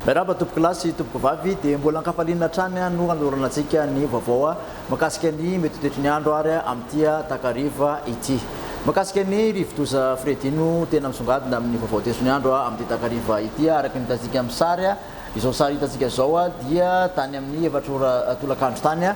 Miarahaba tompokolahy sy tompokovavy dia mbola ankafaliana hatrany no hanolorana antsika ny vaovao makasika ny mety toetry ny andro ary amin'ity takariva ity. Makasika ny rivodoza Freddy no tena misongadina amin'ny vaovao toetry ny andro amin'ity takariva ity araka ny hitantsika amin'ny sary. Izao sary hitantsika izao dia tany amin'ny efatra ora tolakandro tany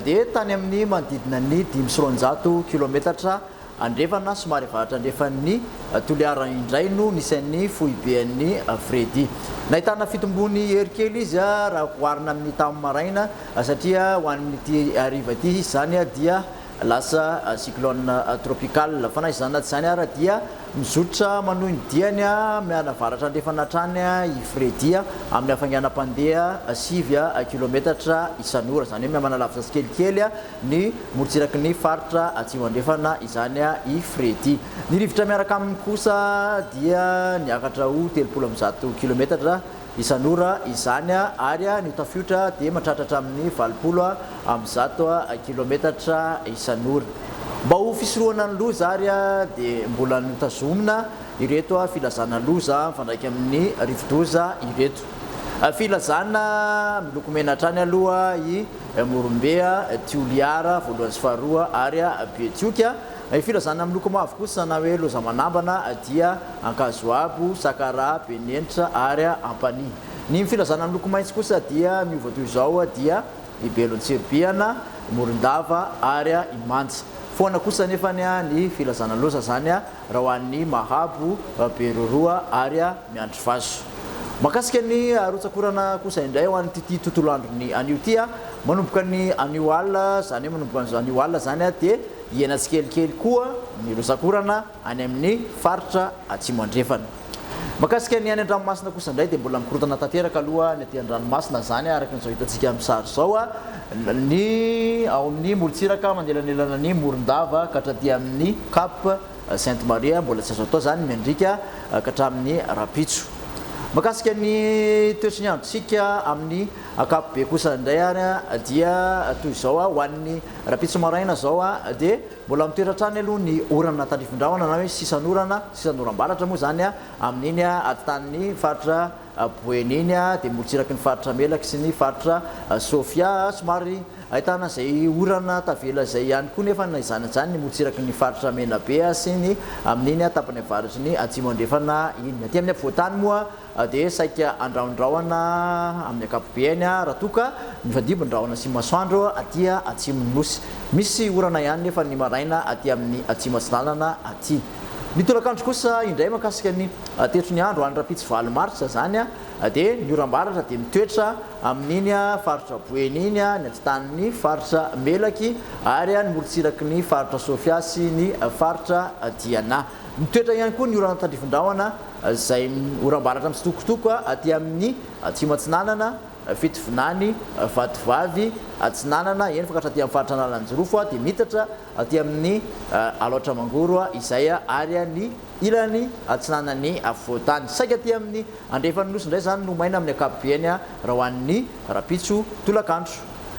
dia tany amin'ny manodidina ny dimy sy roanjato kilometatra andrefana somary avaratra andrefan'ny Toliara indray no nisy an'ny foibe an'i Freddy. Nahitana fitombony hery kely izy raha oharina amin'ny tamin'ny maraina satria ho an'ity hariva ity izy izany dia Lasa cyclone tropical. Fa na izany na tsy izany ara dia mizotra manohy ny diany amin'ny avaratra andrefana hatrany i Freddy amin'ny hafainganam-pandeha sivy kilometatra isan'ora. Izany hoe manalavitra tsikelikely ny morontsiraky ny faritra atsimo andrefana izany i Freddy. Ny rivotra miaraka aminy kosa dia niakatra ho telopolo amby zato kilometatra Isan'ora izany ary ny tafiotra dia mantratratra amin'ny valopolo amin'ny zato kilometatra isan'ora. Mba ho fisorohana ny loza ary dia mbola notazomina ireto filazana loza mifandraika amin'ny rivodoza ireto. Filazana miloko mena hatrany aloha i Morombe, Tioliara voalohany sy faharoa ary Betioky Ny filazana amin'ny loko mavo kosa na hoe loza manambana dia ankazoabo, sakara, benenitra ary ampanihy. Ny filazana amin'ny loko maitso kosa dia miova toy izao dia i belon-tsirobihana, morondava ary i manja. Foana kosa anefa ny filazana loza izany raha ho an'ny mahabo, beroroa ary miandry vazo. Mahakasika ny rotsakorana kosa indray ho an'ity tontolo andron'ny anio ity, manomboka ny anio alina izany hoe manomboka anio alina izany dia. Hihena tsikelikely koa ny rotsak'orana any amin'ny faritra Atsimo Andrefana. Mahakasika ny any an-dranomasina kosa indray dia mbola mikorontana tanteraka aloha ny aty an-dranomasina izany araka izao hitantsika amin'ny sary izao ny ao amin'ny morontsiraka manelanelana ny Morondava ka hatraty amin'ny Cap Sainte Maria mbola tsy azo atao izany miandriaka ka hatramin'ny rahampitso. Mahakasika ny toetry ny androntsika amin'ny ankapobe kosa indray ary dia toy izao ho an'ny Rahampitso maraina izao dia mbola mitoetra hatrany aloha ny orana tandrifin-drahona na hoe sisan'orana, sisan'oram-baratra moa izany amin'iny aditanin'ny faritra Boeny iny dia morotsiraky ny faritra Melaky sy ny faritra Sofia. Somary ahitana izay orana tavela izay ihany koa nefa na izany na izany ny morotsiraky ny faritra Menabe sy ny amin'iny tapany avaratry ny Atsimo Andrefana iny. Aty amin'ny afovoan-tany moa. dia saika andrahondrahona amin'ny ankapobeny raha toa ka mifandimby ny rahona sy ny masoandro aty atsimon'ny Nosy. Misy orana ihany nefa ny maraina aty amin'ny Atsimo Atsinanana aty. Ny tolakandro kosa indray makasika ny tetro ny andro any rahampitso valo martsa izany dia ny oram-baratra dia mitoetra amin'iny faritra Boeny iny, ny atitan'ny faritra Melaky ary ny morontsiraky ny faritra Sofia sy ny faritra Diana. Mitoetra ihany koa ny orana tandrifindrahona. izay oram-baratra mitsitokotoko aty amin'ny atsimo-atsinanana, Fitovinany, Vatovavy, atsinanana, eny fa ka hatraty amin'ny faritra Analanjirofo, dia miitatra aty amin'ny Alaotra Mangoro izay ary ny ilany atsinanan'ny afovoan-tany. Saika aty amin'ny andrefan'ny Nosy indray izany no maina amin'ny ankapobeny raha ho an'ny rahampitso tolakandro.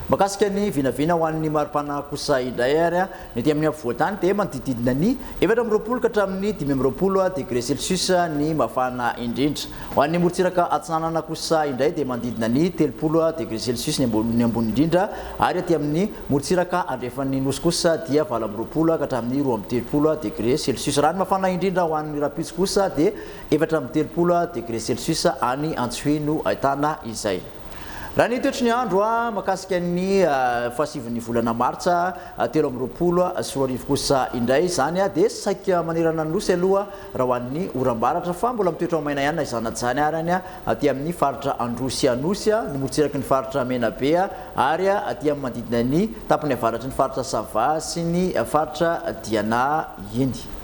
Mahakasika ny vinavina ho an'ny mari-pana kosa indray ary, Ny ety amin'ny afovoan-tany dia manodididina ny efatra amby roapolo ka hatramin'ny dimy amby roapolo degre celsius ny mafana indrindra. Ho an'ny morontsiraka atsinanana kosa indray dia manodidina ny telopolo degre celsius ny ambony indrindra ary aty amin'ny morontsiraka andrefan'ny Nosy kosa dia valo amby roapolo ka hatramin'ny roa amby telopolo degre celsius. Raha ny mafana indrindra ho an'ny rahampitso kosa dia efatra amby telopolo degre celsius any Antsohihy no ahitana izay. Raha ny toetry ny andro mahakasika ny fahasivin' ny volana martsa telo amby roapolo sy roa arivo kosa indray izany dia saika manerana ny Nosy aloha raha ho an' ny oram-baratra fa mbola mitoetra maina ihany na izany na izany ary any aty amin' ny faritra Androsy Anosy, ny morotsiraky ny faritra Menabe ary aty amin' ny manodidina ny tapany avaratry ny faritra Sava sy ny faritra Diana iny.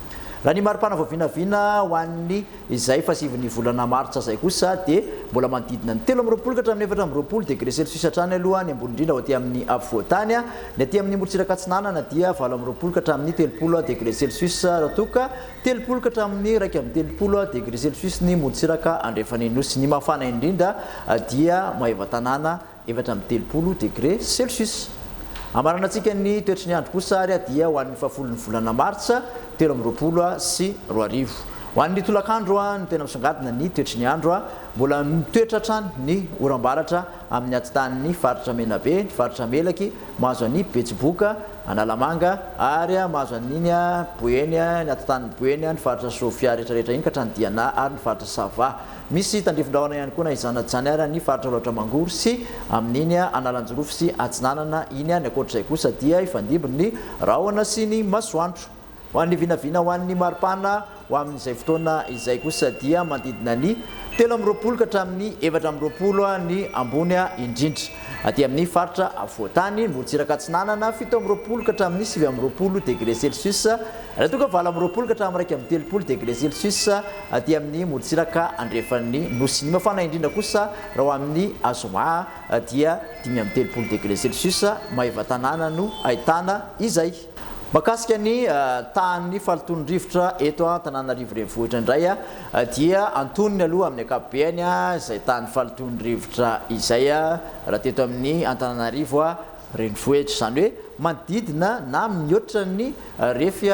Raha ny maripana vao vinavina ho an' ny. Izay fahasivin'ny volana martsa izay kosa dia mbola manodidina ny telo amby roapolo ka hatramin'ny efatra amby roapolo degre celsius hatrany aloha ny ambony indrindra ho aty amin'ny afovoan-tany. Ny aty amin'ny morontsiraka atsinanana dia valo amby roapolo ka hatramin'ny telopolo degre celsius raha toa ka telopolo ka hatramin'ny iraika amby telopolo degre celsius ny morontsiraka andrefan'ny nosy. Ny mafana indrindra dia Maevatanàna. efatra amby telopolo degre celsius. Hamaranantsika ny toetry ny andro kosa ary dia ho an'ny fahafolon'ny volana martsa telo amby roapolo sy roa arivo. Ho an'ny tolakandro no tena misongadina ny toetry ny andro. Mbola mitoetra hatrany ny oram-baratra amin'ny atitanin'ny faritra Menabe, ny faritra Melaky, mahazo an'i Betsiboka, Analamanga ary mahazo an'iny Boeny, ny atitanin'i Boeny, ny faritra Sofia rehetrarehetra iny ka hatrany Diana ary ny faritra Sava. Misy tandrifin-drahona ihany koa na izany na tsy izany ary any faritra Alaotra Mangoro sy amin'iny Analanjirofo sy Atsinanana iny any. Ankoatr'izay kosa dia hifandimby ny rahona sy ny masoandro. Ho an'ny vinavina ho an'ny maripana ho amin'izay fotoana izay kosa dia manodidina ny telo amby roapolo ka hatramin'ny efatra amby roapolo ny ambony indrindra. Aty amin'ny faritra afovoan-tany, morontsiraka atsinanana, fito amby roapolo ka hatramin'ny sivy amby roapolo degre celsius, raha toa ka valo amby roapolo ka hatramin'ny iraika amby telopolo degre celsius, Aty amin'ny morontsiraka andrefan'ny nosy. Ny mafana indrindra kosa raha ho amin'ny azoma dia dimy amby telopolo degre celsius, Maevatanàna no ahitana izay. Mahakasika ny tahan'ny fahalotoan'ny rivotra eto Antananarivo Renivohitra indray dia antonony aloha amin'ny ankapobeny izay tahan'ny fahalotoan'ny rivotra izay raha teto amin'ny Antananarivo. Renivohitra, izany hoe manodidina na mihoatra ny refy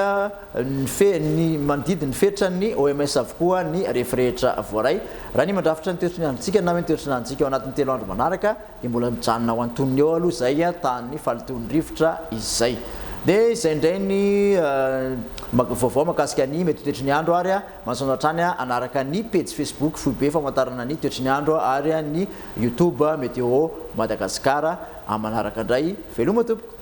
ny fe ny manodidina ny fetran'ny OMS avokoa ny refy rehetra voaray. Raha ny mandrafitra ny teo-tsonianintsika na hoe ny teo-tsonanintsika ao anatin'ny telo andro manaraka dia mbola mijanona ao antonony eo aloha izay tahan'ny fahalotoan'ny rivotra izay. Dia izay indray ny vaovao mahakasika ny mety ho toetry ny andro ary manasoana hatrany hanaraka ny pejy Facebook foibe famantarana ny toetry ny andro ary ny Youtube Météo Madagascar. Amin'ny manaraka indray, veloma tompoko.